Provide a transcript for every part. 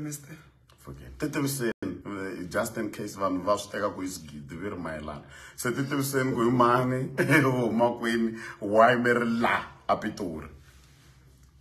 Mister. Okay. Titiviseni eh, just in case vanhu va swi teka ku hi swigidi vi ri mayelana se titiviseni ku hi mani u huma kwini why mi ri la a pitori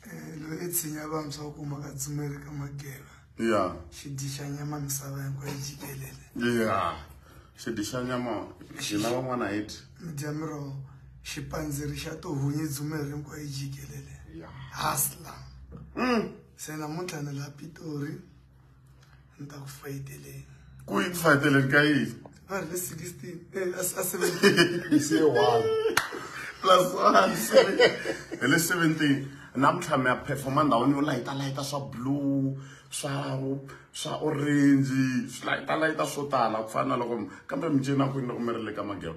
eh, loyi i tshinya vantshwa u kuma ka tsumeli ka mageva ya xidyi xa nyama misava hinkwayo jikelele ya xidyi xa nyama xina van'wana hi dyi mi dya miroho xipandziri xa tohunyi dzumeri hinkwayo jikelele hasla mm. se namuntlha ni la pitori ni ta ku fayiteleni ku yi fayiteleni ka yini va ri le sixteen eh, a seventeen se one plus one hi le seventeen namuntlha mi ya performa ndhawini yo layitalayita swa blue swa swa orange swi layitalayita swo tala ku fana na loko kambe mi cina kwini loko mi ri le ka magero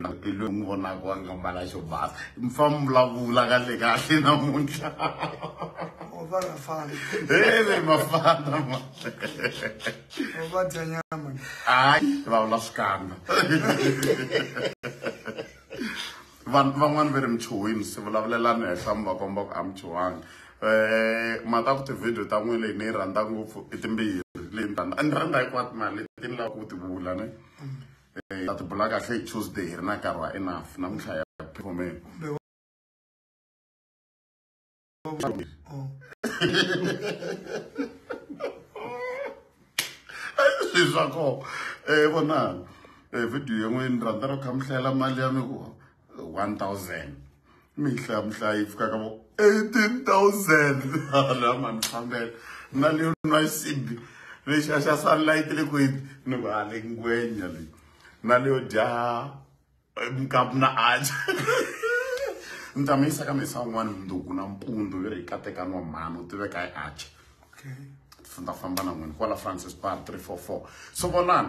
na pelu n'wi vonaka wa nga mbala xo basa mfa mi vulavula ka le kahle namuntlha heve mafana ma hayi vulavula swikandza vanhu van'wani va ri michuhwini se vulavulelani henhla mi va komba ku a michuhwanga um eh, mhaka ku tivhidiyo ta n'wini leyi ni yi rhandza ngopfu i timbirhi leyi ni rhandza a ni rhandza hikwati mali leti ni lava ku ti vula ne mm. eh, that black hle tuesday hi ri na nkarhi wa enough namuntlha ya phomela swilo swa kona um vonani um video yin'we ni rhandza ro kha mi hlayela mali ya mi ku 1000 mihla mhla yi fikaka vo 18000 la mani fambela na leyo nwa xisibi lexi a xa sunlight le kwini ni ku a le ngwenya leyi na leyo dya mkapu na aja ni ta mi yisa ka mesa un'wana mundzuku na mpundu yo ri kateka nwa mhani u tiveka hi aja okay. famba na n'wini kwala francis bar 344 so vonani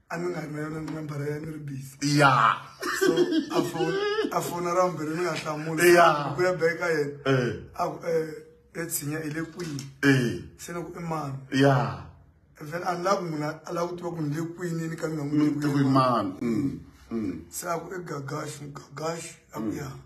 anga nga ri na yona nambara ya ni ri busy ya so a fona ra vumbirhi ni nga hlamula ku ya beka yena eh. a ku e eh, tshinya i le kwini eh. se ni ku i mani ya then a ni lavi munhu a lava ku tiva ku ni le kwini ni ka ni nga n'wi tivi mani mm, mm. se a ku i gagaxi gagaxi a ku ya mm.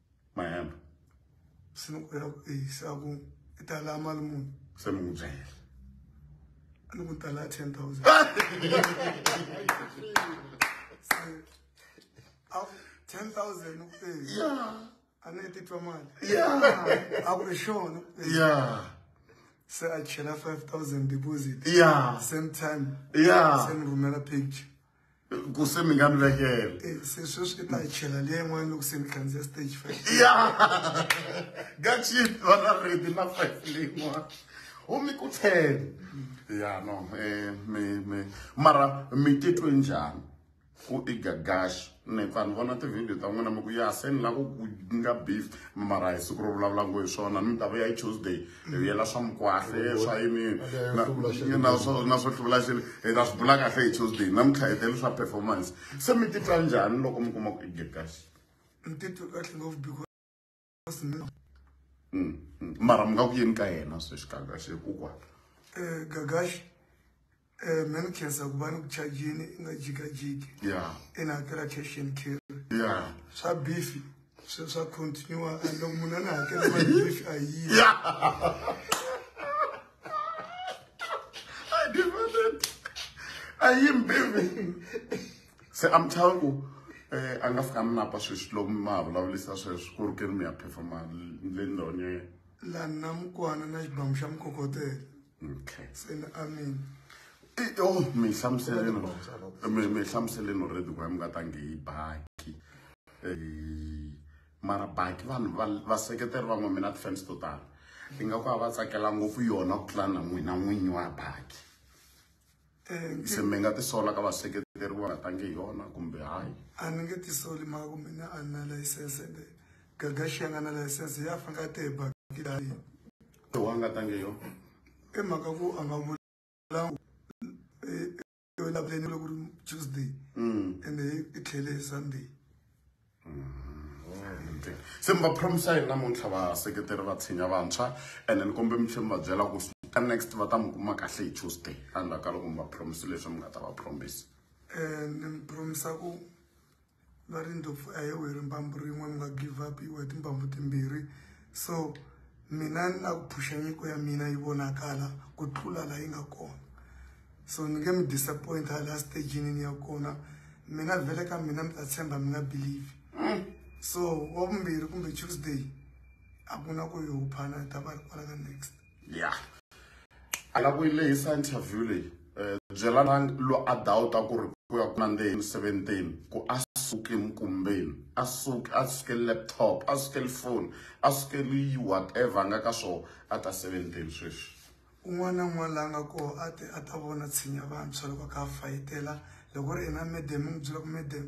my hand sinokwera kueyisa ku i ta la mali muni se mi n'wi byela a ni ku tala ten thousand ten thousand ni ku eya a ni titwa mali ya a ku ri xona ya se a chela five thousand deposit ya same time ya se ni rhumela picture ku se mi nga ni vekela eh, se sweswi i ta yi chela leyi yin'wana loko se mi khandziya stage five ya gachit va na redi na five leyin'wana u mi ku ten ya no eh, mi mi mara mi titwe njhani ku i gagaxi ni pfa ni vona tivhidiyo ta n'wina mi ku ya se ni lava ku nga beef mara hi siku ro vulavula ngo hi swona ni mi ta va ya hi tuesday hi yela swa mukwahle swa yinini na swo hluvula xilo hi ta swi bula kahle hi tuesday namuntlha hi tele swa performance se mi titwa njhani loko mi kuma ku i get kahle ni titwe kahle ngopfu because mm, mm. mara mi nga ku yini ka yena sweswi kagaxe kokwana um eh, gagaxe Eh, me ni khensa ku va ni ku chajini i nga jikajiki yeah. i na hakela cash and carry yeah. swa bifi swi swa continue and loko munhu a ni hakela mali bifi a yi a yi mbivi se i'm telling you eh a nga fika ni napa sweswi loko mi ma vulavulisa sweswi ku ri ke ri mi ya phefoma le ndhawini ya yena laha na mukwana na xibamu xa mukokotela okay sena amen eh, oh mi hlamuseleni mi mi hlamuseleni already ku mi nga tangi hi baki eh, mara baki vanhu va seketeri van'we mina ti-fans to tala ingaku a va tsakela ngopfu yona ku tlula na n'wina n'winyi wa baki Eh, se mi nga tisola ka vaseketeri va nga tangi hi yona kumbe hayi a ni nge tisoli mhaka kumbe ni a ni na layisense ende gagaxi ya nga na layisense ya faneke a te hi bakile ha yini lowu a nga tangi hi yona i mhaka ku a nga vulangu elavuleni loko ri tuesday ende i tlhele hi sunday se mi va promisa yini namuntlha vaseketeri va tshinya vantshwa and ni kombe mi tlhela mi va byela ku ka next va ta mi kuma kahle hi tuesday endzhaku ka loko mi va promise leswi mi nga ta va promise um ni mi promisa ku va ri ndlopfu a hi weri mbambu rin'we mi nga give up iwe timbambu timbirhi so mina ni lava ku phusha nyiko ya mina yi vonakala ku tlula laha yi nga kona so ni nge mi disappoint ha laha stagini ni ya kona mina vhele ka mina mi ta tshemba mi nga believe mm. so wa vumbirhi kumbe tuesday a ku na ku yi huphana ta va ri kwala ka next ya yeah. a la ku yi lehisa interview leyi um byela na lo a dawuta ku ri ku ya ku nandzeni emiseventeni ku a suke emikumbeni a suke a suke laptop a suke lifoni a suke liyi whatever a nga ka swona a ta seventeni sweswi un'wana na un'wana la nga koho a te a ta vona tshinya vantshwa loko a kha a fayitela loko ri ina medem n'wi byela ku medem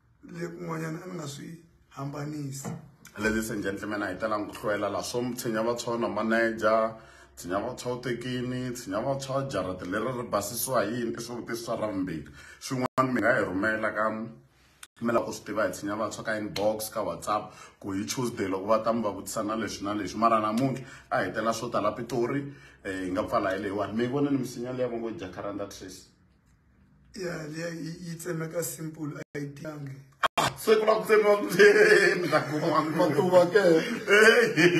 lekun'wanyana a ni nga swi hambanisi ladies and gentlemen a hi talanga ku hloyela la swo tshinya vantshwa na manager tshinya vantshwa u tekini tshinya vantshwa jarata leri ri basisiwa hi yini i swivutiso swa ravumbirhi swin'wana mi nga hi rhumela ka mi lava ku swi tiva hi tshinya vantshwa ka inbox ka whatsapp ku hi tuesday loko va ta mi va vutisa na leswi na leswi mara namuntlha a hi tela swo tala pitori um hi nga pfala hi leyiwani mi yi vonini misinya leyi va ngo jacaranda trace ya leya yi tsemeka simple a yi tiyangi ah, se ku la ku tsemiwa matuva ke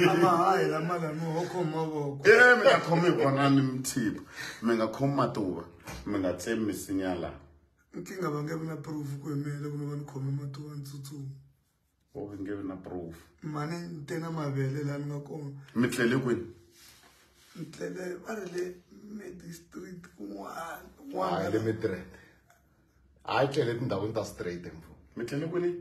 amahayi lama lami ho khoma mavoko e mi nga khomi hi kona ni mthipa mi nga khomi matuva mi nga tsemi misinya laha nkingha va nge vi na proof ku yimela kumbe va ni khome matuva ni tsutsuma or we can give na proof mane ni te na mavele laha ni nga kona mi tlele kwini ni tlele va ri le medistrict kun'wana kun'wana le mitrend a yi tlele tindhawini ta straight mfo mi tlele kwini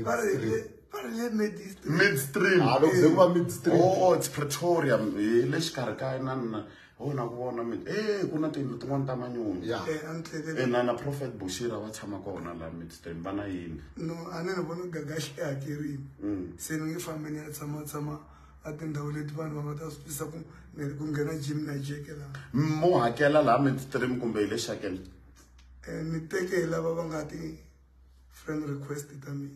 va ri le va ri le midstream midstream a loko se ku va midstream oh it's pretoria hi le xikarhi ka na na ho na ku vona mina e ku na tiyindlu tin'wana ta manyoni ya Eh, a ni tlekele ena na prophet bushira va tshama kona la midstone va na yini no a ni ni vona gagaxi i hakerini Mm. se ni nge fambi ni ya tshama tshama a tindhawu leti vanhu va nga ta swi twisisa ku ni- ku nghena jim na jeke laha mo hakela laha midstream kumbe hi le shakele um ni teke hi lava va nga ti friend request ta mina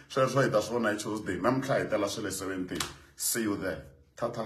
sweswo hi ta swi vona hi tuesday namuntlha hi tela swe le 17 see you there tha tha